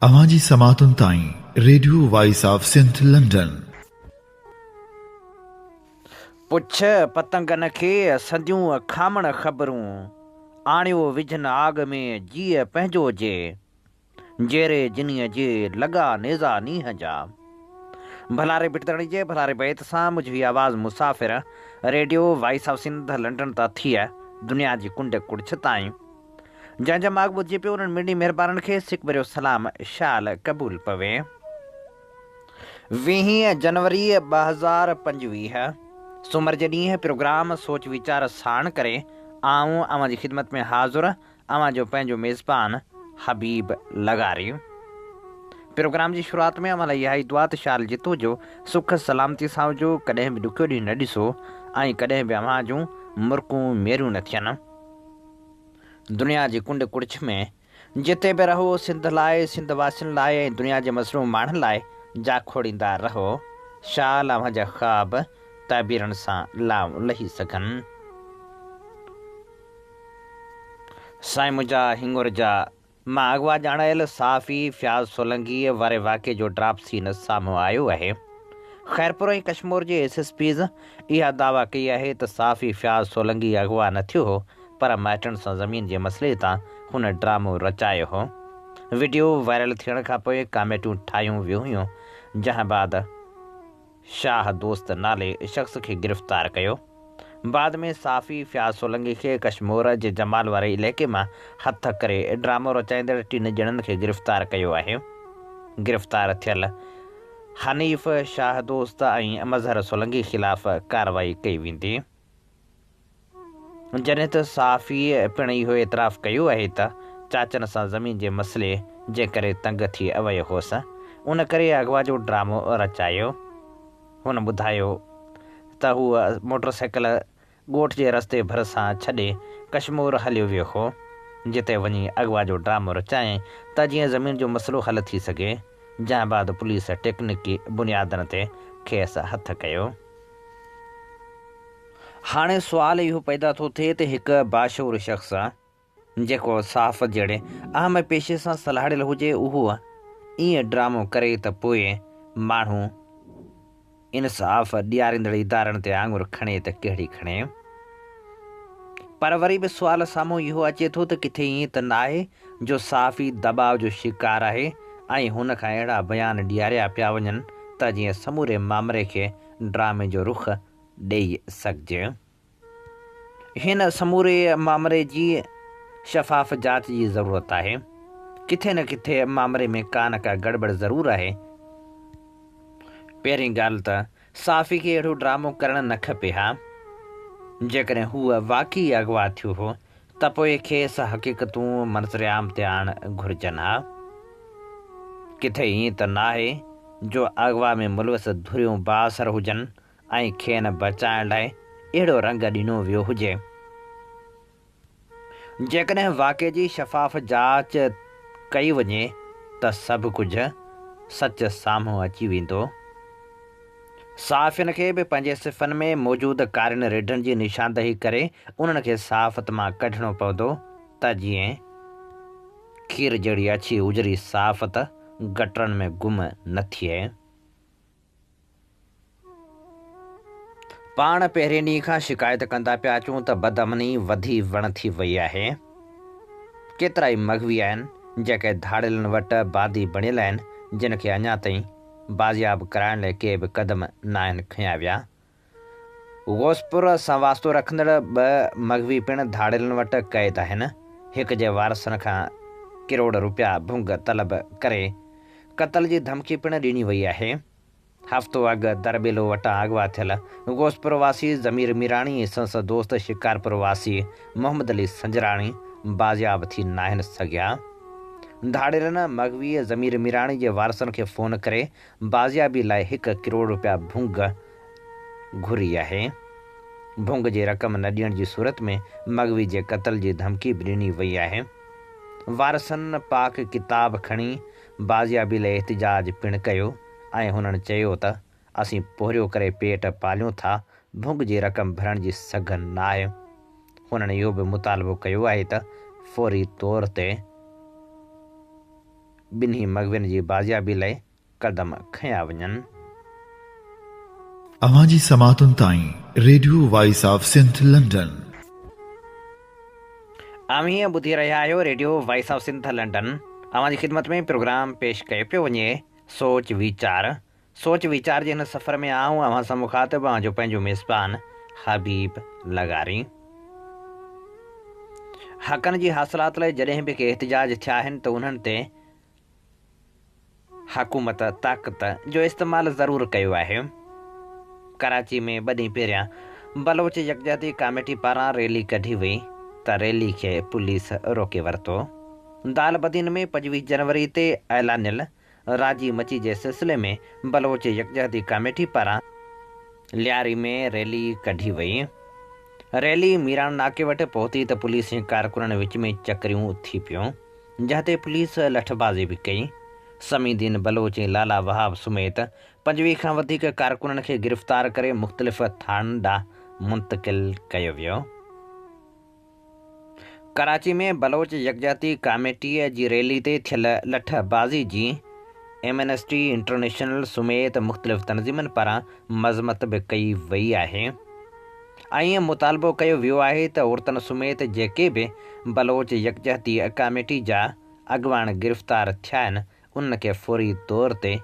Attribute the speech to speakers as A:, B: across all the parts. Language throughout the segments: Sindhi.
A: اوهان جي سماعتن تائين radio voice of Sindh London.
B: پڇ پتنگن کي سنديون کامڻ خبرون، آڻيو وجهن آڳ ۾ جيء پنهنجو جي، جيري جنيء جي لڳا نيزا نينهن جا. ڀلا ري بٽدڙي جي ڀلا ري بيت سان مجهوي آواز مسافر radio voice of Sindh London تان ٿيء دنيا جي ڪنڊ ڪڙڇ تائين. جنهن جا ماڳ ٻڌجي پيو انهن مڙني مهربانن کي سڪ ڀريو سلام شال قبول پوي. ويهين جنوري ٻه هزار پنجويهه سومر جي ڏينهن پروگرام سوچ ويچار ساڻ ڪري آئون اوهان جي خدمت ۾ حاضر اوهان جو پنهنجو ميزبان حبيب لغاري پروگرام جي شروعات ۾ اوهان لاء اها ئي دعا ته شال جت هجو سک سلامتي سان هجو ڪڏهن به ڏکيو ڏينهن نه ڏسو ۽ ڪڏهن به اوهان جون مرڪون ميريون نه ٿين. دنيا جي ڪنڊ ڪڙڇ ۾ جتي به رهو سنڌ لاء، سنڌ واسين لاء ۽ دنيا جي مظلوم ماڻهن لاء جا کوڙيندا رهو، شال اوهان جا خواب تعبيرن سان لانهون لهي سگهن. سائين منهنجا هڱر جا. مان اغوا ڄاڻايل صحافي فياض سولنگيء واري واقعي جو ڊراپ سين سامهون آيو آهي. خيرپور ۽ ڪشمور جي ايس ايس پيز اها دعويٰ ڪئي آهي ته صحافي فياض سولنگي اغوا نه ٿيو هو پر مائٽن سان زمين جي مسئلي تان هن ڊرامو رچايو هو. وڊيو وائرل ٿيڻ کانپوء ڪاميٽيون ٺاهيون ويون هيون جنهن بعد. شاهه دوست نالي شخص کي گرفتار ڪيو. بعد ۾ صحافي فياض سولنگي کي ڪشمور جي جمال واري علائقي مان هٿ ڪري ڊرامو رچائيندڙ ٽن ڄڻن کي گرفتار ڪيو آهي. گرفتار ٿيل حنيف، شاهه دوست ۽ مظهر سولنگي خلاف ڪارروائي ڪئي ويندي. جڏهن ته صحافيء پڻ اهو اعتراف ڪيو آهي ته چاچن سان زمين جي مسئلي جي ڪري تنگ ٿي ويو هوس، ان ڪري اغوا جو ڊرامو رچايو. هن ٻڌايو ته هو موٽرسائيڪل ڳوٺ جي رستي ڀرسان ڇڏي ڪشمور هليو ويو هو، جتي وڃي اغوا جو ڊرامو رچائين ته جيئن زمين جو مسئلو حل ٿي سگهي، جنهن بعد پوليس ٽيڪنڪي بنيادن تي کيس هٿ ڪيو. هاڻي سوال اهو پيدا ٿو ٿئي ته هڪ باشعور شخص جيڪو صحافت جهڙي اهم پيشي سان سلهاڙيل هجي اهو ائين ڊرامو ڪري ته پوء ماڻهو انصاف ڏياريندڙ ادارن تي آڱر کڻي ته ڪهڙي کڻي؟ پر وري به سوال سامهون اهو اچي ٿو ته ڪٿي ائين ته ناهي جو صحافي دٻاء جو شڪار آهي ۽ هن کان اهڙا بيان ڏياريا پيا وڃن ته جيئن سموري مامري کي ڊرامي جو رخ ڏيئي سگهجي. هن سموري مامري جي شفاف جاچ جي ضرورت آهي. ڪٿي نه ڪٿي مامري ۾ ڪا نه ڪا گڙٻڙ ضرور آهي. پهرين ڳالهه ته صحافي کي اهڙو ڊرامو ڪرڻ نه کپي ها. جيڪڏهن هو واقعي اغوا ٿيو هو ته پوء کيس حقيقتون منظرعام تي آڻڻ گهرجن ها. ڪٿي ائين ته ناهي جو اغوا ۾ ملوث ڌريون بااثر هجن ۽ کين بچائڻ لاء اهڙو رنگ ڏنو ويو هجي. جيڪڏهن واقعي جي شفاف جاچ ڪئي وڃي ته سڀ ڪجهه سچ سامهون اچي ويندو. صحافين کي به پنهنجي صفن ۾ موجود ڪارين ريڍن جي نشاندهي ڪري انهن کي صحافت مان ڪڍڻو پوندو ته جيئن کير جهڙي اڇي اجري صحافت گٽرن ۾ گم نه ٿئي. پاڻ پهرين ڏينهن کان شڪايت ڪندا پيا اچون ته بدامني وڌي وڻ ٿي وئي آهي. ڪيترائي مغوي آهن جيڪي ڌاڙيلن وٽ باندي بڻيل آهن جن کي اڃا تائين بازياب ڪرائڻ لاء ڪي به قدم ناهن کنيا ويا غوثپور سان واسطو رکندڙ ٻه مغوي پڻ ڌاڙيلن وٽ قيد آهن. هڪ جي وارثن کان ڪروڙ روپيا ڀونگ طلب ڪري قتل جي ڌمڪي پڻ ڏني وئي آهي. هفتو اڳ درٻيلو وٽان اغوا ٿيل غوثپور واسي ضمير ميراڻي ۽ سندس دوست شڪارپور واسي محمد علي سنجراڻي بازياب ٿي ناهن سگهيا. ڌاڙيلن مغويء ضمير ميراڻي جي وارثن کي فون ڪري بازيابي لاء هڪ ڪروڙ رپيا ڀونگ گهري آهي. ڀونگ جي رقم نه ڏيڻ جي صورت ۾ مغوي جي قتل جي ڌمڪي به ڏني وئي آهي. وارثن پاڪ ڪتاب کڻي بازيابي لاء احتجاج پڻ ڪيو ۽ هنن چيو ته اسين پورهيو ڪري پيٽ پاليون ٿا، ڀونگ جي رقم ڀرڻ جي سگهه نه آهي. هنن اهو به مطالبو ڪيو آهي ته فوري طور تي ٻنهي مغوين جي بازيابي لئه قدم کنيا وڃن.
A: اوهان جي سماعتن تائين radio voice of Sindh London.
B: اوهين ٻڌي رهيا آهيو radio voice of Sindh London اوهان جي خدمت ۾ پروگرام پيش ڪيو پيو وڃي سوچ ويچار سوچ ويچار جي هن سفر ۾ آئون اوهان سان مخاطب آهيان جو پنهنجو ميزبان حبيب لغاري حقن جي حاصلات لاء جڏهن به ڪي احتجاج ٿيا آهن ته انهن تي حڪومت طاقت جو استعمال ضرور ڪيو آهي ڪراچي ۾ ٻه ڏينهن پهريان بلوچ يڪجهتي ڪاميٽي پاران ريلي ڪڍي وئي ته ريلي کي پوليس روڪي ورتو دالبدين ۾ پنجويهه جنوري تي اعلانيل راضي مچي جي سلسلي ۾ بلوچ يڪجهتي ڪاميٽي پاران لياري ۾ ريلي ڪڍي وئي. ريلي ميراڻ ناڪي وٽ پهتي ته پوليس ۽ ڪارڪنن وچ ۾ چڪريون ٿي پيون، جنهن تي پوليس لٺبازي به ڪئي. سمي دين بلوچ ۽ لالا وهاب سميت پنجويهه کان وڌيڪ ڪارڪنن کي گرفتار ڪري مختلف ٿاڻن ڏانهن منتقل ڪيو ويو. ڪراچي ۾ بلوچ يڪجهتي ڪاميٽيء جي ريلي تي ٿيل لٺ بازي جي ايمنسٽي انٽرنيشنل سميت مختلف تنظيمن پاران مذمت به ڪئي وئي آهي ۽ مطالبو ڪيو ويو آهي ته عورتن سميت جيڪي به بلوچ يڪجهتي ڪاميٽي جا اڳواڻ گرفتار ٿيا آهن ان کي فوري طور تي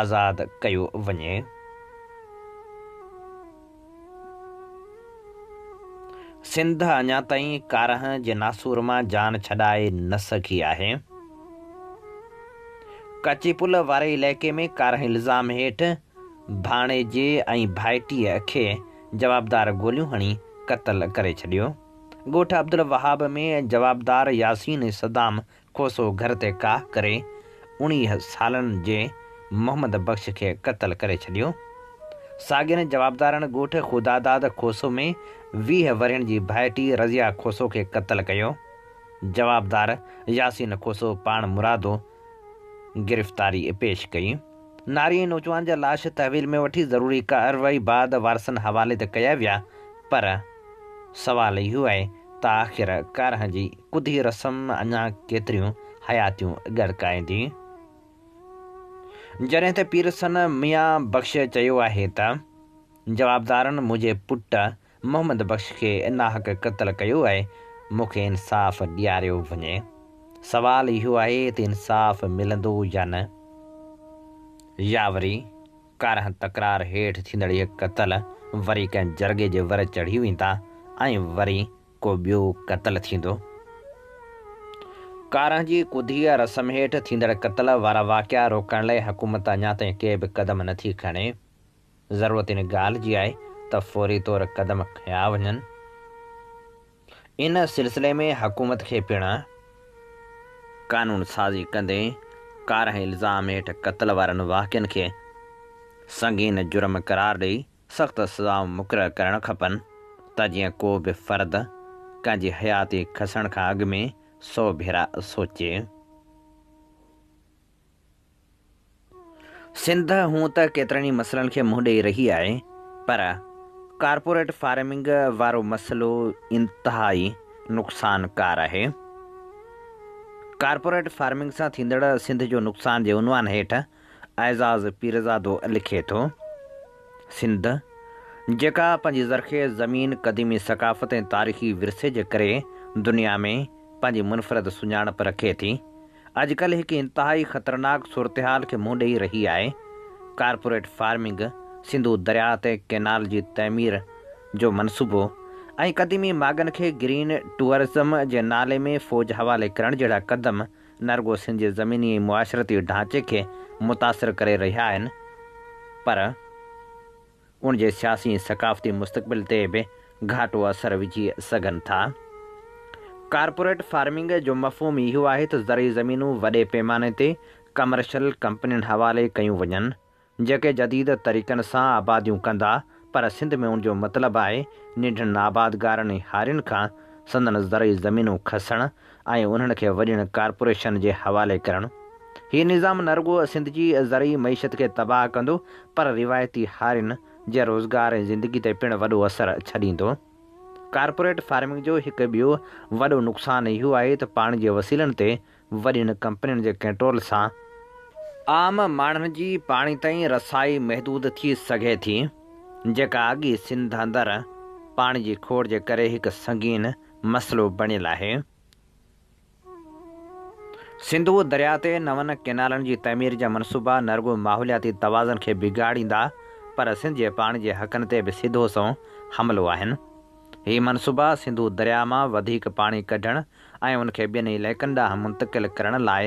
B: آزاد ڪيو وڃي. سنڌ اڃا تائين ڪارنهن جي ناسور مان جان ڇڏائي نه سگهي آهي. ڪچي پل واري علائقي ۾ ڪارنهن الزام هيٺ ڀاڻيجي ۽ ڀائٽيء کي جوابدار گوليون هڻي قتل ڪري ڇڏيو. ڳوٺ عبدالوهاب ۾ جوابدار ياسين صدام کوسو گهر تي ڪاهه ڪري اڻيهه سالن جي محمد بخش کي قتل ڪري ڇڏيو. ساڳين جوابدارن ڳوٺ خداداد کوسو ۾ ويهه ورهين جي ڀائٽي رضيه کوسو کي قتل ڪيو. جوابدار ياسين کوسو پاڻمرادو گرفتاري پيش ڪئي. ناري ۽ نوجوان جا لاش تحويل ۾ وٺي ضروري ڪارروائي بعد وارثن حوالي ته ڪيا ويا پر سوال اهو آهي ته آخر ڪارهن جي ڪڌي رسم اڃا ڪيتريون حياتيون ڳڙڪائيندي؟ جڏهن ته پيرسن ميان بخش چيو آهي ته جوابدارن منهنجي پٽ محمد بخش کي ناحق قتل ڪيو آهي، مون کي انصاف ڏياريو وڃي. سوال اهو آهي ته انصاف ملندو يا نه؟ يا وري ڪارهن تڪرار هيٺ ٿيندڙ اهي قتل وري ڪنهن جرڳي جي ور چڙهي ويندا ۽ وري ڪو ٻيو قتل ٿيندو؟ ڪارهن جي ڪڌيء رسم هيٺ ٿيندڙ قتل وارا واقعا روڪڻ لاء حڪومت اڃا تائين ڪي به قدم نٿي کڻي. ضرورت ان ڳالهه جي آهي ته فوري طور قدم کنيا وڃن. ان سلسلي ۾ حڪومت کي پڻ قانون سازي ڪندي ڪارنهن الزام هيٺ قتل وارن واقعن کي سنگين جرم قرار ڏئي سخت سزائون مقرر ڪرڻ کپن ته جيئن ڪو به فرد ڪنهن جي حياتي کسڻ کان اڳ ۾ سو ڀيرا سوچي. سنڌ هونء ته ڪيترن ئي مسئلن کي منهن ڏئي رهي آهي پر ڪارپوريٽ فارمنگ وارو مسئلو انتهائي نقصان ڪار آهي. ڪارپوريٽ فارمنگ سان ٿيندڙ سنڌ جو نقصان جي عنوان هيٺ اعزاز پيرزادو لکي ٿو، سنڌ جيڪا پنهنجي زرخيز زمين، قديمي ثقافت ۽ تاريخي ورثي جي ڪري دنيا ۾ پنهنجي منفرد سڃاڻپ رکي ٿي، اڄڪلهه هڪ انتهائي خطرناڪ صورتحال کي منهن ڏئي رهي آهي، ڪارپوريٽ فارمنگ، سنڌو درياء تي ڪينال جي تعمير جو منصوبو ۽ قديمي ماڳن کي گرين ٽوئرزم جي نالي ۾ فوج حوالي ڪرڻ جهڙا قدم نه رڳو سنڌ جي زميني ۽ معاشرتي ڍانچي کي متاثر ڪري رهيا آهن پر ان جي سياسي ۽ ثقافتي مستقبل تي به گهاٽو اثر وجهي سگهن ٿا. ڪارپوريٽ فارمنگ جو مفهوم اهو آهي ته زرعي زمينون وڏي پيماني تي ڪمرشل ڪمپنين حوالي ڪيون وڃن، جيڪي جديد طريقن سان آباديون ڪندا، پر سنڌ ۾ ان جو مطلب آهي ننڍڙن آبادگارن ۽ هارين کان سندن زرعي زمينون کسڻ، ۽ انهن کي وڏين ڪارپوريشن جي حوالي ڪرڻ. هي نظام نه رڳو سنڌ جي زرعي معيشت کي تباهه ڪندو پر روايتي هارين جي روزگار ۽ زندگي تي پڻ وڏو اثر ڇڏيندو. ڪارپوريٽ فارمنگ جو هڪ ٻيو وڏو نقصان اهو آهي ته پاڻي جي وسيلن تي وڏين ڪمپنين جي ڪنٽرول سان، عام ماڻهن جي پاڻي تائين رسائي محدود ٿي سگهي ٿي، جيڪا اڳي سنڌ اندر پاڻي جي کوڙ جي ڪري هڪ سنگين مسئلو بڻيل آهي. سنڌوء درياء تي نون ڪئنالن جي تعمير جا منصوبا نه رڳو ماحولياتي توازن کي بگاڙيندا پر سنڌ جي پاڻي جي حقن تي به سڌو سنئون حملو آهن. هي منصوبا سنڌو درياء مان وڌيڪ پاڻي ڪڍڻ ۽ ان کي ٻين علائقن ڏانهن منتقل ڪرڻ لاء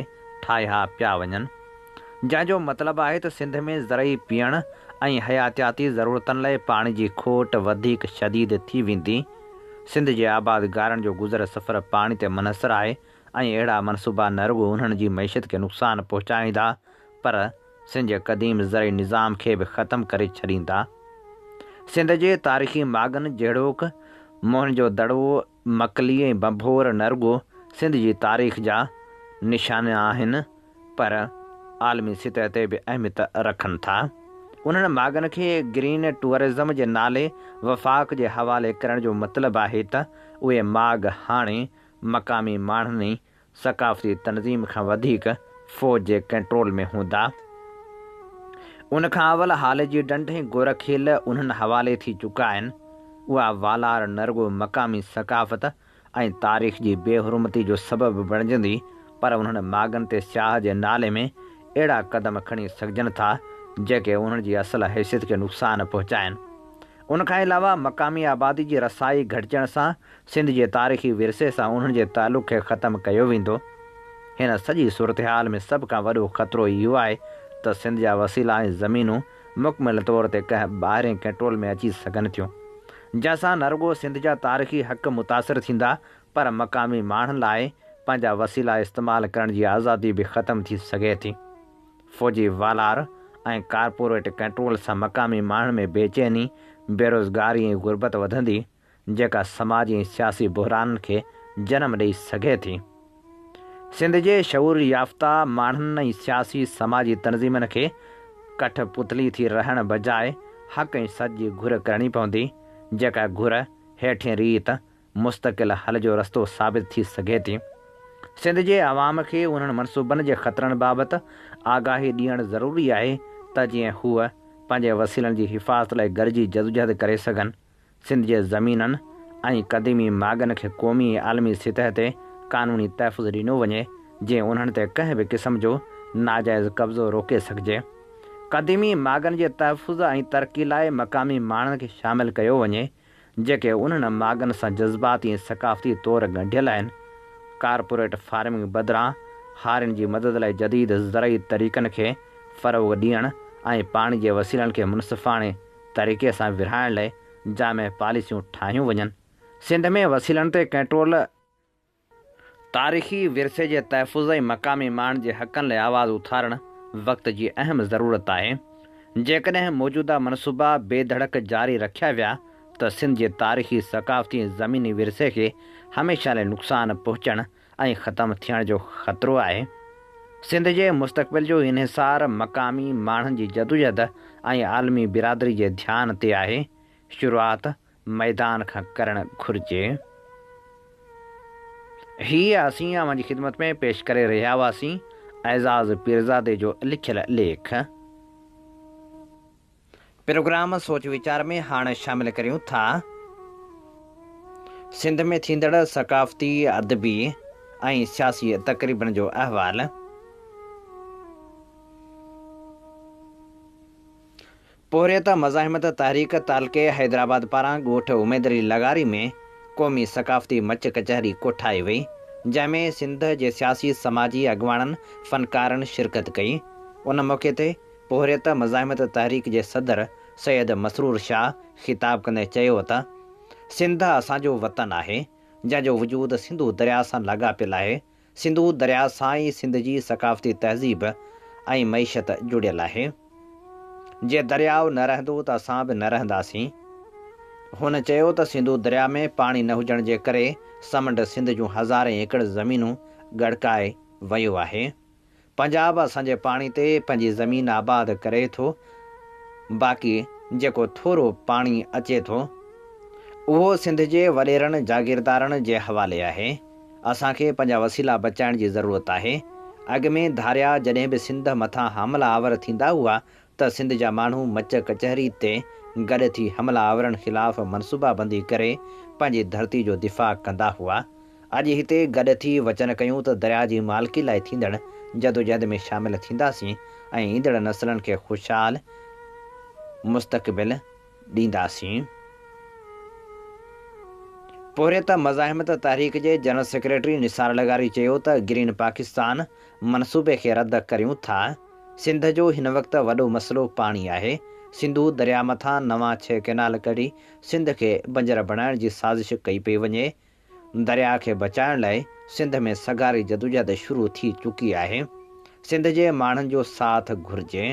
B: ٺاهيا پيا وڃن. جنهن جو مطلب آهي ته سنڌ ۾ زرعي، پيئڻ ۽ حياتياتي ضرورتن لاء پاڻي جي کوٽ وڌيڪ شديد ٿي ويندي. سنڌ جي آباد گارن جو گذر سفر پاڻي تي منحصر آهي ۽ اهڙا منصوبا نه رڳو انهن جي معيشت کي نقصان پهچائين ٿا پر سنڌ جي قديم زرعي نظام کي به ختم ڪري ڇڏين ٿا. سنڌ جي تاريخي ماڳن جهڙوڪ موهن جو دڙو، مڪلي ۽ ڀنڀور نه رڳو سنڌ جي تاريخ جا نشان آهن، پر عالمي سطح تي به اهميت رکن ٿا. انهن ماڳن کي گرين ٽوئرزم جي نالي وفاق جي حوالي ڪرڻ جو مطلب آهي ته اهي ماڳ هاڻي مقامي ماڻهن ۽ ثقافتي تنظيم کان وڌيڪ فوج جي ڪنٽرول ۾ هوندا. ان کان اول هالي جي ڍنڍ ۽ گورکيل انهن حوالي ٿي چڪا آهن. اها والار نه رڳو مقامي ثقافت ۽ تاريخ جي بي حرمتي جو سبب بڻجندي پر انهن ماڳن تي سياح جي نالي ۾ اهڙا قدم کڻي سگهجن ٿا جيڪي انهن جي اصل حيثيت کي نقصان پهچائين. ان کان علاوه مقامي آبادي جي رسائي گهٽجڻ سان سنڌ جي تاريخي ورثي سان انهن جي تعلق کي ختم ڪيو ويندو. هن سڄي صورتحال ۾ سڀ کان وڏو خطرو اهو آهي ته سنڌ جا وسيلا ۽ زمينون مڪمل طور تي ڪنهن ٻاهرين ڪنٽرول ۾ اچي سگهن ٿيون، جنهن سان نه رڳو سنڌ جا تاريخي حق متاثر ٿيندا پر مقامي ماڻهن لاء پنهنجا وسيلا استعمال ڪرڻ جي آزادي به ختم ٿي سگهي ٿي. فوجي والار ۽ ڪارپوريٽ ڪنٽرول سان مقامي ماڻهن ۾ بيچيني، بيروزگاري ۽ غربت وڌندي. جيڪا سماجي ۽ سياسي بحرانن کي جنم ڏئي سگهي ٿي. سنڌ جي شعور يافته ماڻهن ۽ سياسي سماجي تنظيمن کي ڪٺ پتلي ٿي رهڻ بجاء حق ۽ سچ جي گهر ڪرڻي پوندي، جيڪا گهر هيٺين ريت مستقل حل جو رستو ثابت ٿي سگهي ٿي. سنڌ جي عوام کي انهن منصوبن جي خطرن بابت آگاهي ڏيڻ ضروري آهي ته جيئن هو پنهنجي وسيلن جي حفاظت لاء گڏجي جدوجهد ڪري سگهن. سنڌ جي زمينن ۽ قديمي ماڳن کي قومي ۽ عالمي سطح تي قانوني تحفظ ڏنو وڃي جيئن انهن تي ڪنهن به قسم جو ناجائز قبضو روڪي سگهجي. قديمي ماڳن جي تحفظ ۽ ترقي لاء مقامي ماڻهن کي شامل ڪيو وڃي جيڪي انهن ماڳن سان جذباتي ۽ ثقافتي طور ڳنڍيل آهن. ڪارپوريٽ فارمنگ بدران هارين جي مدد لاء جديد زرعي طريقن کي فروغ ڏيڻ ۽ پاڻي جي وسيلن کي منصفاڻي طريقي سان ورهائڻ لئه جامع پاليسيون ٺاهيون وڃن، سنڌ ۾ وسيلن تي ڪنٽرول، تاريخي ورثي جي تحفظ ۽ مقامي ماڻهن جي حقن لئه آواز اٿارڻ وقت جي اهم ضرورت آهي، جيڪڏهن موجوده منصوبا بي ڌڙڪ جاري رکيا ويا ته سنڌ جي تاريخي، ثقافتي ۽ زميني ورثي کي هميشه لاء نقصان پهچڻ ۽ ختم ٿيڻ جو خطرو آهي، سنڌ جي مستقبل جو انحصار مقامي ماڻهن جي جدوجهد ۽ عالمي برادري جي ڌيان تي آهي، شروعات ميدان کان ڪرڻ گهرجي. هيء اسين اوهان جي خدمت ۾ پيش ڪري رهيا هئاسين اعزاز پيرزادي جو لکيل ليک. پروگرام سوچ ويچار ۾ هاڻ شامل ڪريون ٿا. سنڌ ۾ ٿيندڙ ثقافتي، ادبي ۽ سياسي تقريبن جو احوال. پورهيت مزاحمت تحريڪ تعلقي حيدرآباد پاران ڳوٺ اميدعلي لغاري ۾ قومي ثقافتي مچ ڪچهري ڪوٺائي وئي، جنهن ۾ سنڌ جي سياسي سماجي اڳواڻن، فنڪارن شرڪت ڪئي. ان موقعي تي پورهيت مزاحمت تحريڪ جي صدر سيد مسرور شاهه خطاب ڪندي چيو ته سنڌ اسان جو وطن آهي، جنهن جو وجود سنڌو درياء سان لاڳاپيل آهي، سنڌو درياء سان ئي سنڌ جي ثقافتي تهذيب ۽ معيشت جڙيل آهي، جي درياء نه رهندو ته اسان به نه رهنداسين. هن چيو ته سنڌو درياء ۾ پاڻي نه هجڻ جي ڪري سمنڊ سنڌ جون هزارين ايڪڙ زمينون ڳڙڪائي ويو آهي. پنجاب اسان جي پاڻي تي پنهنجي زمين آباد ڪري ٿو باقي جيڪو ٿورو پاڻي اچي ٿو اهو سنڌ جي وڏيرن جاگيردارن جي حوالي آهي اسان کي پنهنجا وسيلا بچائڻ جي ضرورت آهي اڳ ۾ ڌاريا جڏهن به سنڌ مٿان حملا آور ٿيندا هئا ته سنڌ جا ماڻهو مچ ڪچهري تي گڏ ٿي حمله آورن خلاف منصوبا بندي ڪري پنهنجي ڌرتي جو دفاع ڪندا هئا. اڄ هتي گڏ ٿي وچن ڪيون ته درياء جي مالڪي لاء ٿيندڙ جدوجهد ۾ شامل ٿينداسين ۽ ايندڙ نسلن کي خوشحال مستقبل ڏينداسين. پورهيت مزاحمت تحريڪ جي جنرل سيڪريٽري نثار لغاري چيو ته گرين پاڪستان منصوبي کي رد ڪريون ٿا، سنڌ جو هن وقت وڏو مسئلو پاڻي آهي، سنڌو درياء مٿان نوان ڇهه ڪئنال ڪڍي سنڌ کي بنجر بڻائڻ جي سازش ڪئي پئي وڃي، درياء کي بچائڻ لاء سنڌ ۾ سگهاري جدوجهد شروع ٿي چڪي آهي، سنڌ جي ماڻهن جو ساٿ گهرجي.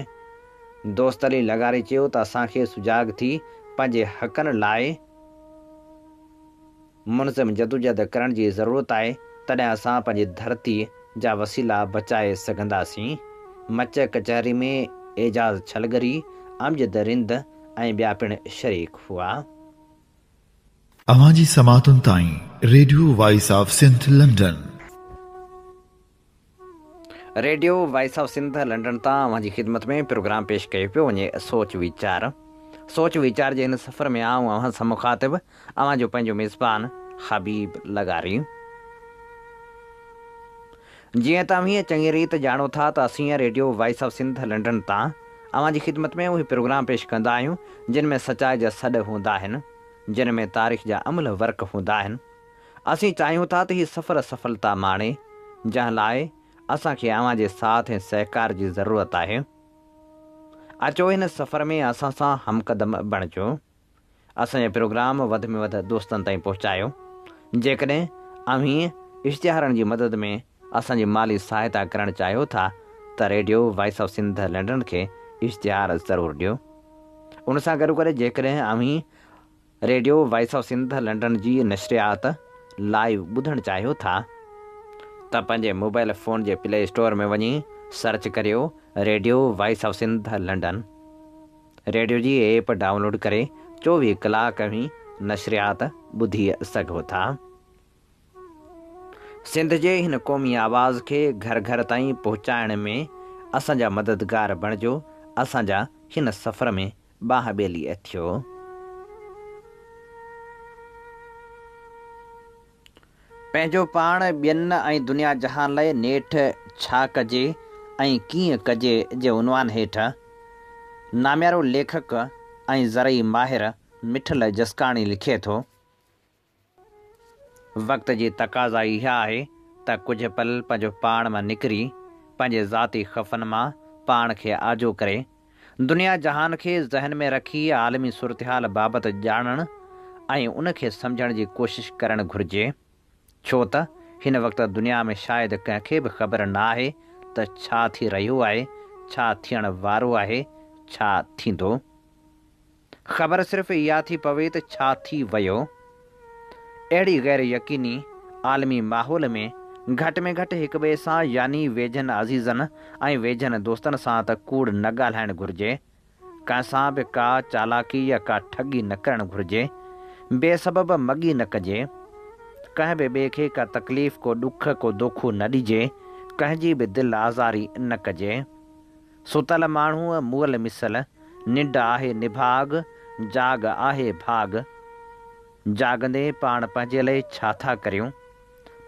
B: دوست علي لغاري چيو ته اسان کي سجاڳ ٿي پنهنجي حقن لاء. منظم جدوجهد ڪرڻ جي ضرورت آهي، تڏهن اسان پنهنجي ڌرتي جا وسيلا بچائي سگهنداسين. مچ ڪچهري ۾ اعجاز ڇلگري، امجد رند ۽ ٻيا پڻ شريڪ هئا.
A: اوهان جي سماعتن تائين radio voice of Sindh London.
B: Radio voice of Sindh London تان اوهان جي خدمت ۾ پروگرام پيش ڪيو پيو وڃي سوچ ويچار سوچ ويچار جي هن سفر ۾ آئون اوهان سان مخاطب اوهان جو پنهنجو ميزبان حبيب لغاري جيئن توهين چڱي ريت ڄاڻو ٿا ته اسين radio voice of Sindh London تان اوهان جي خدمت ۾ اهي پروگرام پيش ڪندا آهيون جن ۾ سچائي جا سڏ هوندا آهن جن ۾ تاريخ جا املهه ورق هوندا آهن اسين چاهيون ٿا ته هي سفر سڦلتا ماڻي، جنهن لاء اسان کي اوهان جي ساٿ ۽ سهڪار جي ضرورت آهي. اچو هن سفر ۾ اسان سان همقدم بڻجو. اسان جا پروگرام وڌ ۾ وڌ دوستن تائين پهچايو. جيڪڏهن اوهين اشتهارن جي مدد ۾ اسان جي مالي سهائتا ڪرڻ چاهيو ٿا ته radio voice of Sindh London کي اشتهار ضرور ڏيو. ان سان گڏوگڏ جيڪڏهن اوهين radio voice of Sindh London جي نشريات لائيو ٻڌڻ چاهيو ٿا ته پنهنجي موبائيل فون جي پلي اسٽور ۾ وڃي سرچ ڪريو radio voice of Sindh London radio جي ايپ ڊائونلوڊ ڪري چوويهه ڪلاڪ اوهين نشريات ٻڌي سگهو ٿا سنڌ جي هن قومي آواز کي گهر گهر تائين پهچائڻ ۾ اسان جا مددگار بڻجو اسان جا هن سفر ۾ ٻانهن ٻيلي اٿيو. پنهنجو پاڻ، ٻين ۽ دنيا جهان لئه نيٺ ڇا ڪجي ۽ ڪيئن ڪجي جي عنوان هيٺ ناميارو ليکڪ ۽ زرعي ماهر مٺل جسڪاڻي لکي ٿو. وقت جي تقاضا اها آهي ته ڪجهه پل پنهنجو پاڻ مان نڪري، پنهنجي ذاتي خفن مان پاڻ کي آجو ڪري، دنيا جهان کي ذهن ۾ رکي عالمي صورتحال بابت ڄاڻڻ ۽ ان کي سمجهڻ جي ڪوشش ڪرڻ گهرجي. ڇو ته هن وقت دنيا ۾ شايد ڪنهن کي به خبر نه آهي ته ڇا ٿي رهيو آهي، ڇا ٿيڻ وارو آهي، ڇا ٿيندو. خبر صرف اها ٿي پوي ته ڇا ٿي ويو؟ اهڙي غير يقيني عالمي ماحول ۾ گهٽ ۾ گهٽ هڪ ٻئي سان يعني ويجهن عزيزن ۽ ويجهن دوستن سان ته ڪوڙ نه ڳالهائڻ گهرجي. ڪنهن سان به ڪا چالاڪي يا ڪا ٺڳي نه ڪرڻ گهرجي. بي سبب مڳي نه ڪجي. ڪنهن به ٻئي کي ڪا تڪليف، ڪو ڏک، ڪو دوکو نه ڏجي. ڪنهن جي به دل آزاري نه ڪجي. ستل ماڻهوء مئل مثل، ننڊ آهي نڀاڳ، جاڳ آهي ڀاڳ. جاڳندي پاڻ پنهنجي لئه ڇا ٿا ڪريون؟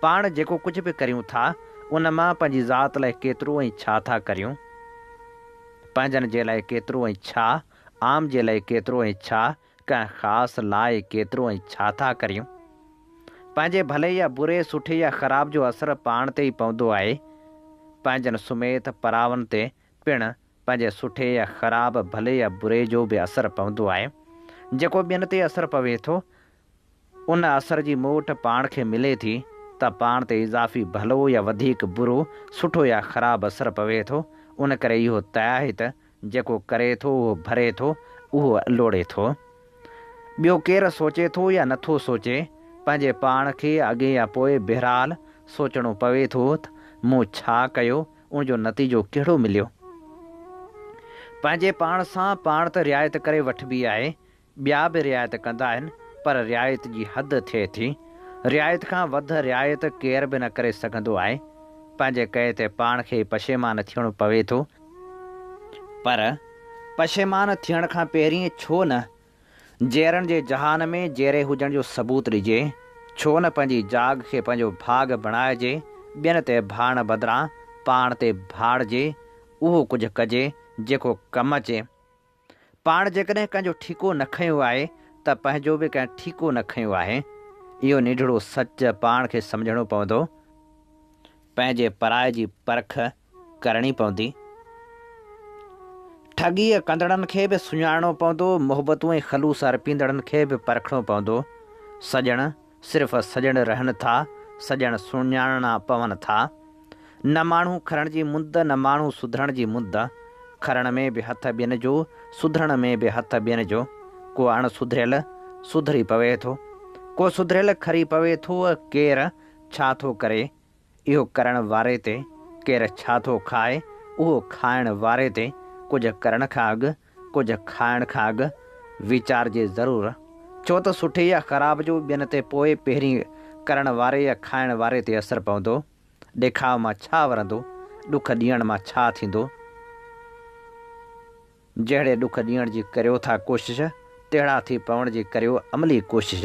B: پاڻ جيڪو ڪجهه به ڪريون ٿا، ان مان پنهنجي ذات لئه ڪيترو ۽ ڇا ٿا ڪريون؟ پنهنجن جي لئه ڪيترو ۽ ڇا؟ عام جي لئه ڪيترو ۽ ڇا؟ ڪنهن خاص لاء ڪيترو ۽ ڇا ٿا ڪريون؟ پنهنجي ڀلي يا بري، سٺي يا خراب جو اثر پاڻ تي ئي پوندو آهي. پنهنجن سميت پراون تي پڻ پنهنجي سٺي يا خراب، ڀلي يا بري جو به اثر پوندو آهي. جيڪو ٻين تي اثر پوي ٿو. ان اثر جي موٽ پاڻ کي ملي ٿي ته پاڻ تي اضافي ڀلو يا وڌيڪ برو، سٺو يا خراب اثر پوي ٿو، ان ڪري اهو طئه آهي ته جيڪو ڪري ٿو اهو ڀري ٿو، اهو لوڙي ٿو. ٻيو ڪير سوچي ٿو يا نٿو سوچي، پنهنجي پاڻ کي اڳي يا پوء بهرحال سوچڻو پوي ٿو ته مون ڇا ڪيو، ان جو نتيجو ڪهڙو مليو. پنهنجي پاڻ سان پاڻ ته رعايت ڪري وٺبي آهي، ٻيا به رعايت ڪندا آهن پر رعايت جي حد ٿئي ٿي. رعايت کان وڌ رعايت ڪير به نه ڪري سگهندو آهي. پنهنجي ڪئي تي پاڻ کي ئي پشيمان ٿيڻو پوي ٿو. پر پشيمان ٿيڻ کان پهرين ڇو نه جيئرڻ جي جهان ۾ جيئري هجڻ جو ثبوت ڏجي. ڇو نه پنهنجي جاڳ کي پنهنجو ڀاڳ بڻائجي. ٻين تي ڀاڙڻ بدران پاڻ تي ڀاڙجي. اهو ڪجهه ڪجي جيڪو ڪم اچي. پاڻ جيڪڏهن ڪنهن جو ٺيڪو نه کنيو آهي ته پنهنجو به ڪنهن ٺيڪو نه کنيو آهي. اهو نيڍڙو سچ پاڻ کي سمجهڻو پوندو. پنهنجي پرائي جي پرک ڪرڻي پوندي. ٺڳيء ڪندڙن کي به سڃاڻڻو پوندو، محبتون ۽ خلوص ارپيندڙن کي به پرکڻو پوندو. سڄڻ! صرف سڄڻ رهن ٿا، سڄڻ سڃاڻڻا پون ٿا. نه ماڻهو کرڻ جي مند، نه ماڻهو سڌرڻ جي مند. کرڻ ۾ به هٿ ٻين جو، سڌرڻ ۾ به هٿ ٻين جو. ڪو اڻ سڌريل سڌري پوي ٿو، ڪو سڌريل کري پوي ٿو، ڪير ڇا ٿو ڪري، اهو ڪرڻ واري تي ڪير ڇا ٿو کائي، اهو کائڻ واري تي ڪجهه ڪرڻ کان اڳ، ڪجهه کائڻ کان اڳ ويچارجي ضرور. ڇو ته سٺي يا خراب جو ٻين تي پوء پهرين ڪرڻ واري يا کائڻ واري تي اثر پوندو. ڏيکاء مان ڇا ورندو، ڏک ڏيڻ مان ڇا ٿيندو. جهڙي ڏک ڏيڻ جي ڪريو ٿا ڪوشش، تهڙا ٿي پوڻ جي ڪريو عملي ڪوشش.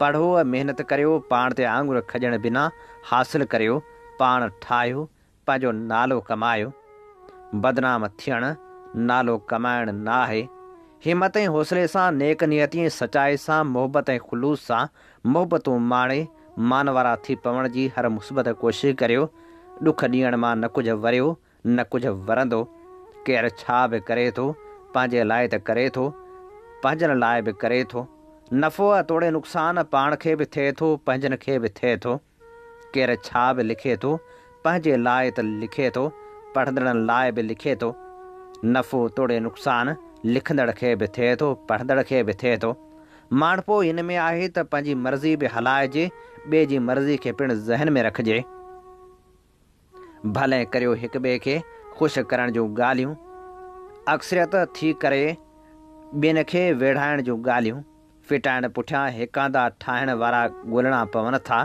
B: پڙهو ۽ محنت ڪريو، پاڻ تي آڱر کڄڻ بنا حاصل ڪريو، پاڻ ٺاهيو، پنهنجو نالو ڪمايو. بدنام ٿيڻ نالو ڪمائڻ نه آهي. همت ۽ حوصلي سان، نيڪ نيتي ۽ سچائي سان، محبت ۽ خلوص سان محبتون ماڻي، مان وارا ٿي پوڻ جي هر مثبت ڪوشش ڪريو، ڏک ڏيڻ مان نه ڪجهه وريو، نه ڪجهه ورندو، ڪير ڇا به ڪري ٿو، پنهنجي لاء ته ڪري ٿو، پنهنجن لاء به ڪري ٿو، نفعو توڙي نقصان پاڻ کي به ٿئي ٿو، پنهنجن کي به ٿئي ٿو، ڪير ڇا به لکي ٿو، پنهنجي لاء ته لکي ٿو، پڙهندڙن لاء به لکي ٿو، نفعو توڙي نقصان لکندڙ کي به ٿئي ٿو، پڙهندڙ کي به ٿئي ٿو، ماڻهپو ان ۾ آهي ته پنهنجي مرضي به هلائجي، ٻئي جي مرضي کي پڻ ذهن ۾ رکجي. ڀلي ڪريو هڪ ٻئي کي خوش ڪرڻ جون ڳالهيون، اڪثريت ٿي ڪري ٻين کي ويڙهائڻ جون ڳالهيون ڦٽائڻ پٺيان هڪاندا ٺاهڻ وارا ڳولڻا پون ٿا،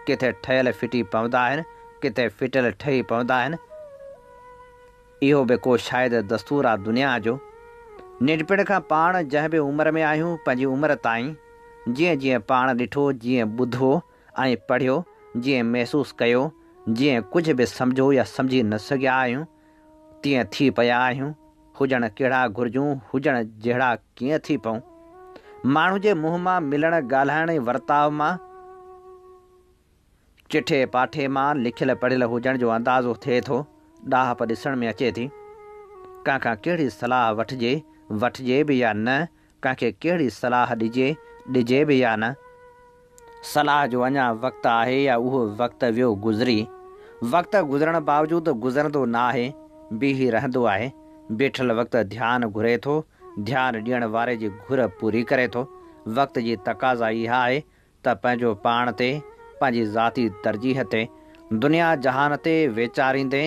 B: ڪٿي ٺهيل ڦٽي پوندا آهن، ڪٿي ڦٽيل ٺهي پوندا آهن، اهو به ڪو شايد دستور آ دنيا جو. ننڍپڻ کان پاڻ جنهن به عمر ۾ آهيون، پنهنجي عمر تائين جيئن جيئن پاڻ ڏٺو، جيئن ٻڌو، ائين پڙهيو جيئن محسوس ڪيو جيئن ڪجهه به سمجهو يا سمجهي نه سگهيا آهيون تيئن ٿي پيا آهيون هجڻ ڪهڙا گهرجون هجڻ جهڙا ڪيئن ٿي پئون ماڻهو جي منهن مان ملڻ ڳالهائڻ ۽ ورتاء مان چٺي پاٺي مان لکيل پڙهيل هجڻ جو اندازو ٿئي ٿو ڏاهپ ڏسڻ ۾ اچي ٿي ڪنهن کان ڪهڙي صلاح وٺجي وٺجي به يا نه ڪنهن کي ڪهڙي صلاح ڏجي، ڏجي به يا نه؟ صلاح جو اڃا وقت آهي يا اهو وقت ويو گذري؟ وقت گذرڻ باوجود گذرندو نه آهي، بيهي رهندو آهي. بيٺل وقت ڌيان گهري ٿو، ڌيان ڏيڻ واري جي گهر پوري ڪري ٿو. وقت جي تقاضا اها آهي ته پنهنجو پاڻ تي، پنهنجي ذاتي ترجيح تي، دنيا جهان تي ويچاريندي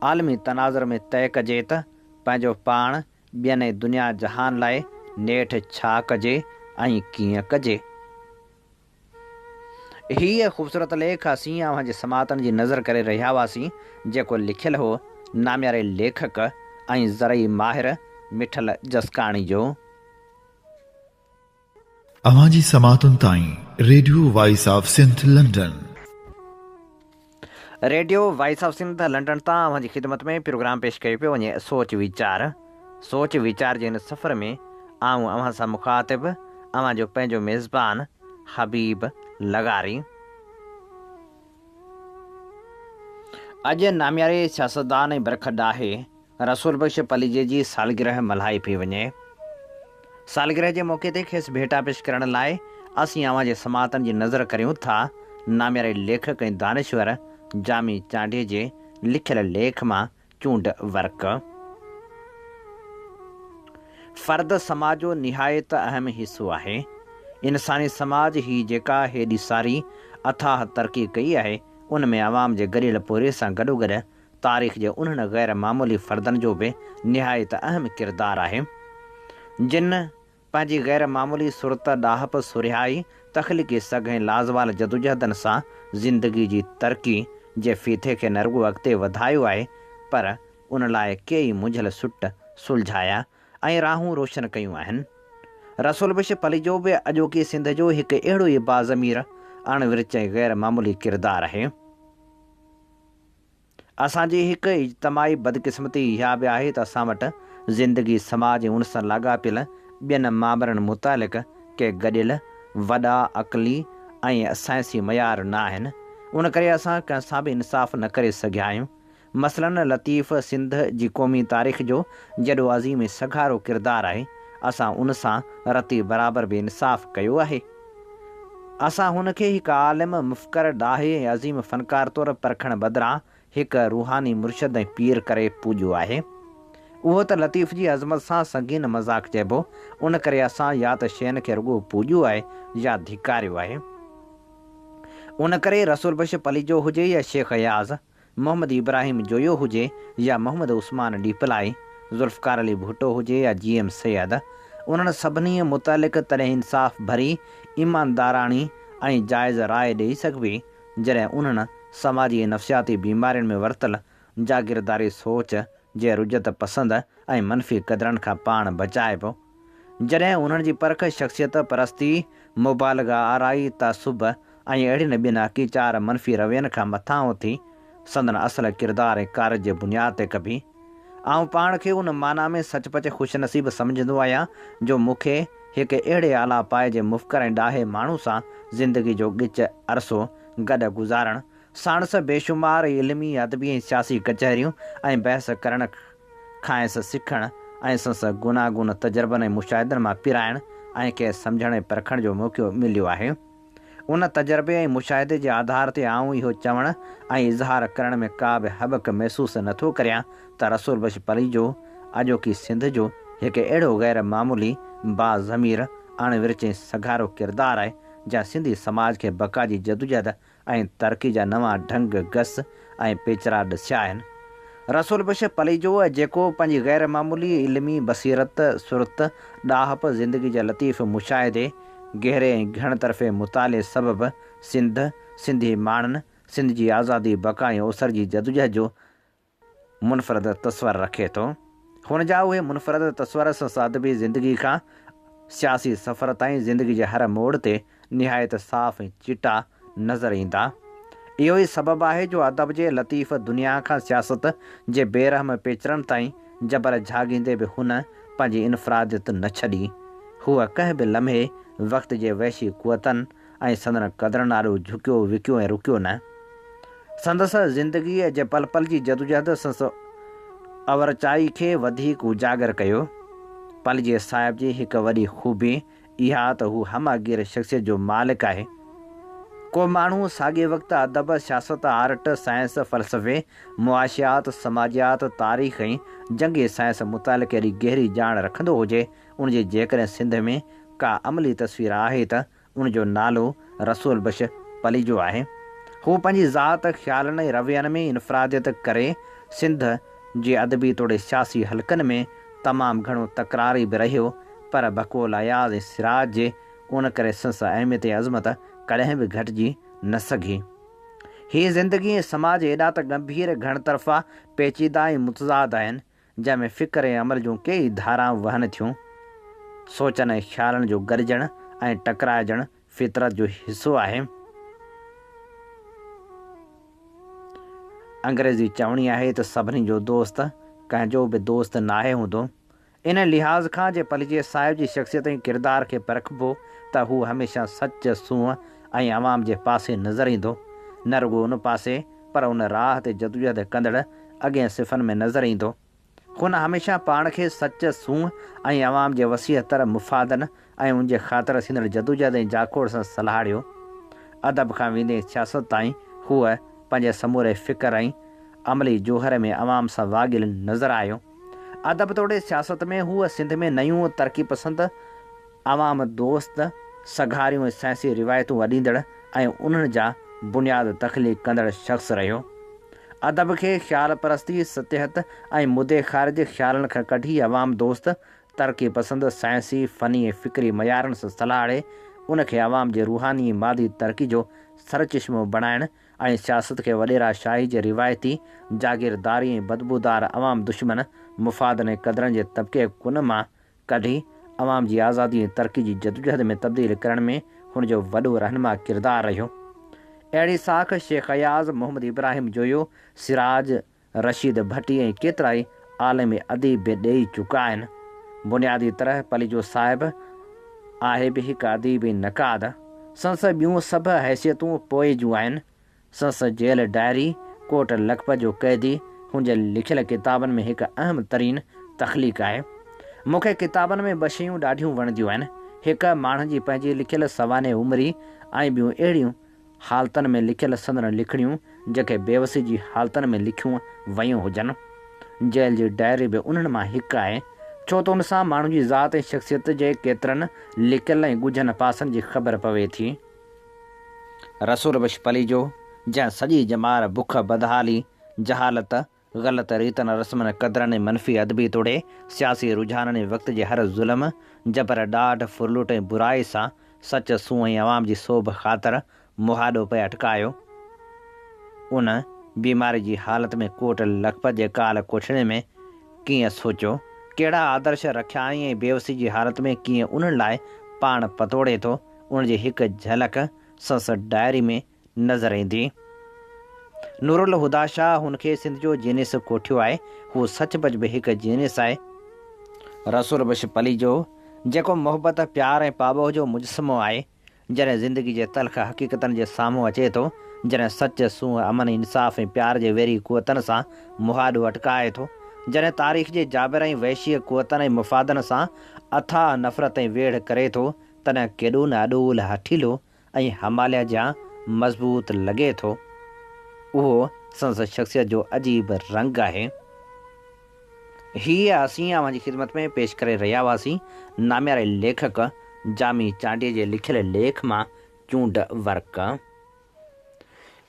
B: عالمي تناظر ۾ طئي ڪجي ته پنهنجو پاڻ ٻين ۽ دنيا جهان لاء نيٺ ڇا ڪجي ۽ ڪيئن ڪجي. هيء خوبصورت ليک اسين اوهان جي سماعتن جي نذر ڪري رهيا هئاسين، جيڪو لکيل هو نامياري ليکڪ ۽ زرعي ماهر مٺل جسڪاڻي جو.
A: اوهان جي سماعتن تائين radio voice of Sindh London.
B: Radio voice of Sindh London تان اوهان جي خدمت ۾ پروگرام پيش ڪيو پيو وڃي سوچ ويچار. سوچ ويچار جي هن سفر ۾ آئون اوهان سان مخاطب اوهان جو پنهنجو ميزبان حبيب لغاري. اڄ نامياري سياستدان ۽ برک ڊاهي رسول بخش پليجي جي سالگرهه ملهائي پئي وڃي. سالگرهه جي موقعي تي کيس ڀيٽا پيش ڪرڻ لاء اسين اوهان جي سماعتن جي نذر ڪريون ٿا. نامياري ليکڪ ۽ دانشور جامي چانڊيي جي لکيل ليک مان چونڊ ورق. فرد سماج جو نهايت اهم حصو آهي. انساني سماج هي جيڪا هيڏي ساري اٿاهه ترقي ڪئي آهي، ان ۾ عوام جي گڏيل پورهيي سان گڏوگڏ تاريخ جي انهن غير معمولي فردن جو به نهايت اهم ڪردار آهي، جن پنهنجي غير معمولي سرت، ڏاهپ، سرهيائي، تخليقي سگهه ۽ لازوال جدوجهدن سان زندگي جي ترقي جي ڦيٿي کي نه رڳو اڳتي وڌايو آهي، پر ان لاء ڪيئي منجهيل سٽ سلجهايا ۽ راهون روشن ڪيون آهن. رسول بخش پليجو به اڄوڪي سنڌ جو هڪ اهڙو ئي باضمير، اڻ ورچ ۽ غير معمولي ڪردار آهي. اسان جي هڪ اجتماعي بدقسمتي اها به آهي ته اسان وٽ زندگي، سماج ۽ ان سان لاڳاپيل ٻين مامرن متعلق ڪي گڏيل وڏا عقلي ۽ سائنسي معيار نه آهن. ان ڪري اسان ڪنهن سان به انصاف نه ڪري سگهيا آهيون. مثلاً لطيف سنڌ جي قومي تاريخ جو جيڏو عظيم ۽ سگهارو ڪردار آهي، اسان ان سان رتي برابر بي انصاف ڪيو آهي. اسان هن کي هڪ عالم، مفڪر، ڏاهي ۽ عظيم فنڪار طور پرکڻ بدران هڪ روحاني مرشد ۽ پير ڪري پوڄيو آهي. اهو ته لطيف جي عظمت سان سنگين مذاق چئبو. ان ڪري اسان يا ته شين کي رڳو پوڄيو آهي يا ڌڪاريو آهي. ان ڪري رسول بخش پليجو هجي يا شيخ اياز، محمد ابراهيم جويو هجي يا محمد عثمان ڏيپلائي، ذوالفقار علي ڀٽو هجي يا جي ايم سيد، انهن سڀنيء متعلق تڏهن انصاف ڀري، ايمانداراڻي ۽ جائز راء ڏيئي سگهبي، جڏهن انهن سماجي ۽ نفسياتي بيمارين ۾ ورتل جاگيرداري سوچ جي رجعت پسند ۽ منفي قدرن کان پاڻ بچائبو جڏهن انهن جي پرک شخصيت پرستي، مبالغه آرائي، تعصب ۽ اهڙين ٻين اڪي چار منفي روين کان مٿان اٿي سندن اصل ڪردار ۽ ڪارج جي بنياد تي ڪبي. آئون پاڻ کي ان معنيٰ ۾ سچ پچ خوش نصيب سمجهندو آهيان جو مون کي هڪ اهڙي اعليٰ پائي جي مفڪر ۽ ڏاهي ماڻهو سان زندگي جو ڳچ عرصو گڏ گذارڻ، ساڻس بيشمار علمي، ادبي ۽ سياسي ڪچهريون ۽ بحث ڪرڻ، کانئس سکڻ ۽ سنس گوناگون تجربن ۽ مشاهدن مان پرائڻ ۽ کيس سمجهڻ ۽ پرکڻ جو موقعو مليو آهي. ان تجربي ۽ مشاهدي جي آڌار تي آئون اهو چوڻ ۽ اظهار ڪرڻ ۾ ڪا به هٻڪ محسوس نه ٿو ڪريان ته رسول بخش پليجو اڄوڪي سنڌ جو هڪ اهڙو غير معمولي، با ضمير، اڻ ورچين سگهارو ڪردار آهي جنهن سنڌي سماج کي بقا جي جدوجهد ۽ ترقي جا نوان ڍنگ گس ۽ پيچرا ڏسيا آهن. رسول بخش پليجو جيڪو پنهنجي غير معمولي علمي بصيرت، سرت، ڏاهپ، زندگي جي لطيف مشاهدي، گهري ۽ گهڻ طرفي مطالعي سبب سنڌ، سنڌي ماڻهن، سنڌ جي آزادي، بقا ۽ اوسر جي جدوجهد جو منفرد تصور رکي ٿو. هن جا اهي منفرد تصور سس ادبي زندگي کان سياسي سفر تائين زندگي جي هر موڙ تي نهايت صاف ۽ چٽا نظر ايندا. اهو ئي سبب آهي جو ادب جي لطيف دنيا کان سياست جي بي رحم پيچرن تائين جبر جهاڳيندي به هن پنهنجي انفراديت نه ڇڏي. هوء ڪنهن به لمحي وقت جي وحشي قوتن، ۽ سندن قدرن آڏو جهڪيو وڪيو ۽ رڪيو نه. سندس زندگيء جي پل پل جي جدوجهد سندس اورچائي کي وڌيڪ اجاگر ڪيو. پليجي صاحب جي هڪ وڏي خوبي اها ته هو همه گير شخصيت جو مالڪ آهي. ڪو ماڻهو ساڳئي وقت ادب، سياست، آرٽ، سائنس، فلسفي، معاشيات، سماجيات، تاريخ ۽ جنگي سائنس متعلق ايڏي گهري ڄاڻ رکندو هجي، ان جي جيڪڏهن سنڌ ۾ ڪا عملي تصوير آهي ته ان جو نالو رسول بخش پليجو آهي. هو پنهنجي ذات، خيالن ۽ روين ۾ انفراديت ڪري سنڌ جي ادبي توڙي سياسي حلقن ۾ تمام گهڻو تڪراري به رهيو پر بقول اياز ۽ سراج جي ان ڪري سنس اهميت ۽ عظمت ڪڏهن به گهٽجي نه سگهي. هي زندگي ۽ سماج ايڏا ته ڳنڀير، گهڻ طرفا، پيچيده ۽ متضاد آهن جنهن ۾ فڪر ۽ عمل جون ڪيئي ڌارائون وهن ٿيون. سوچن ۽ خيالن جو گڏجڻ ۽ ٽڪرائجڻ فطرت جو حصو آهي. انگريزي چوڻي آهي ته سڀني جو دوست ڪنهن جو به دوست ناهي هوندو. ان لحاظ کان جي پليجي صاحب جي شخصيت ۽ ڪردار کي پرکبو ته هو هميشه سچ، سونهن ۽ عوام جي پاسي نظر ايندو. نه رڳو ان پاسي. پر ان راهه تي جدوجهد ڪندڙ اڳين صفن ۾ نظر ايندو. هن هميشه پاڻ کي سچ، سونهن ۽ عوام جي وسيع تر مفادن ۽ ان جي خاطر ٿيندڙ جدوجهد ۽ جاکوڙ سان سلهاڙيو. ادب کان ويندي سياست تائين هو پنهنجي سموري فڪر ۽ عملي جوهر ۾ عوام سان واڳيل نظر آيو. ادب توڙي سياست ۾ هو سنڌ ۾ نيون ترقي پسند، عوام دوست سگهاريون ۽ سائنسي روايتون اڏيندڙ ۽ انهن جا بنياد تخليق ڪندڙ شخص رهيو. ادب کي خيال پرستي، سطحيت ۽ مدي خارج جي خيالن کان ڪڍي عوام دوست، ترقي پسند، سائنسي، فني ۽ فڪري معيارن سان سلهاڙي ان کي عوام جي روحاني ۽ مادي ترقي جو سرچشمو بڻائڻ ۽ سياست کي وڏيرا شاهي جي روايتي جاگيرداري ۽ بدبودار عوام دشمن مفادن ۽ قدرن جي طبقي ڪن مان ڪڍي عوام جي آزادي ۽ ترقي جي جدوجهد ۾ تبديل ڪرڻ ۾ هن جو وڏو رهنما ڪردار رهيو. اهڙي ساک شيخ اياز، محمد ابراهيم جويو، سراج، رشيد ڀٽي ۽ ڪيترائي عالم اديب به ڏيئي چڪا آهن. بنيادي طرح پليجو صاحب آهي به هڪ اديب ۽ نقاد. سندس ٻيون سڀ حيثيتون پوء جون آهن. سنس جيل ڊائري، ڪوٽ لکپت جو قيدي، هن جي لکيل ڪتابن ۾ هڪ اهم ترين تخليق آهي. مون کي ڪتابن ۾ ٻه شيون ڏاڍيون وڻنديون آهن، هڪ ماڻهن جي پنهنجي لکيل سوانح عمري ۽ ٻيون اهڙيون حالتن ۾ لکيل سندن لکڻيون جيڪي بيوسي جي حالتن ۾ لکيون ويون هجن. جيل جي ڊائري به انهن مان هڪ آهي، ڇو ته ان سان ماڻهن جي ذات ۽ شخصيت جي ڪيترن لڪيل ۽ ڳجهن پاسن جي خبر پوي ٿي. رسول بخش پليجو، جنهن سڄي ڄمار بک، بدحالي، جهالت، غلط ريتن رسمن قدرن ۽ منفي ادبي توڙي سياسي رجحانن ۽ وقت جي هر ظلم، جبر، ڏاڍ، ڦرلوٽ ۽ برائي سان سچ، سونهن ۽ عوام جي سوڀ خاطر مهاڏو پئي اٽڪايو، ان بيماري جي حالت ۾ ڪوٽ لکپت جي ڪال ڪوٺڙي ۾ ڪيئن سوچيو، ڪهڙا آدرش رکيائين ۽ بيوسي جي حالت ۾ ڪيئن انهن لاء پاڻ پتوڙي ٿو ان جي هڪ جهلڪ سنس ڊائري ۾ نظر ايندي. نورالهديٰ شاهه هن کي سنڌ جو جينيس ڪوٺيو آهي. هو سچ پچ به هڪ جينيس آهي. رسول بخش پليجو جيڪو محبت، پيار ۽ پاٻوهه جو مجسمو آهي، جڏهن زندگي جي تلخ حقيقتن جي سامهون اچي ٿو، جڏهن سچ، سونهن، امن، انصاف ۽ پيار جي ويري قوتن سان مهاڏو اٽڪائي ٿو، جڏهن تاريخ جي جابر ۽ وحشي قوتن ۽ مفادن سان اٿاهه نفرت ۽ ويڙهه ڪري ٿو تڏهن ڪيڏو نه اڏول، هٺيلو ۽ هماليه جيان مضبوط لڳي ٿو. اهو سندس شخصيت جو عجيب رنگ آهي. هيء اسين اوهان جي خدمت ۾ پيش ڪري رهيا هئاسين نامياري ليکڪ جامي چانڊيي جي لکيل ليک مان چونڊ ورق.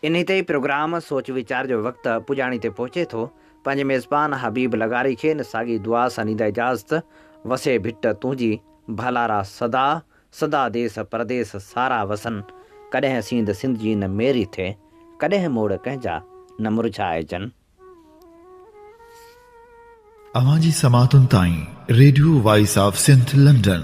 B: انهي تي ئي پروگرام سوچ ويچار جو وقت پڄاڻي تي پهچي ٿو. پنهنجي ميزبان حبيب لغاري کي ان ساڳي دعا سان ڏيندا اجازت، وسي ڀٽ تنهنجي ڀالارا سدا، سدا ديس پرديس سارا وسن، ڪڏهن سينڌ سنڌ جي نه ميري ٿئي، ڪڏهن موڙ ڪنهن جا نه مرجهائجن.
A: اوهان جي سماعتن تائين radio voice of Sindh London.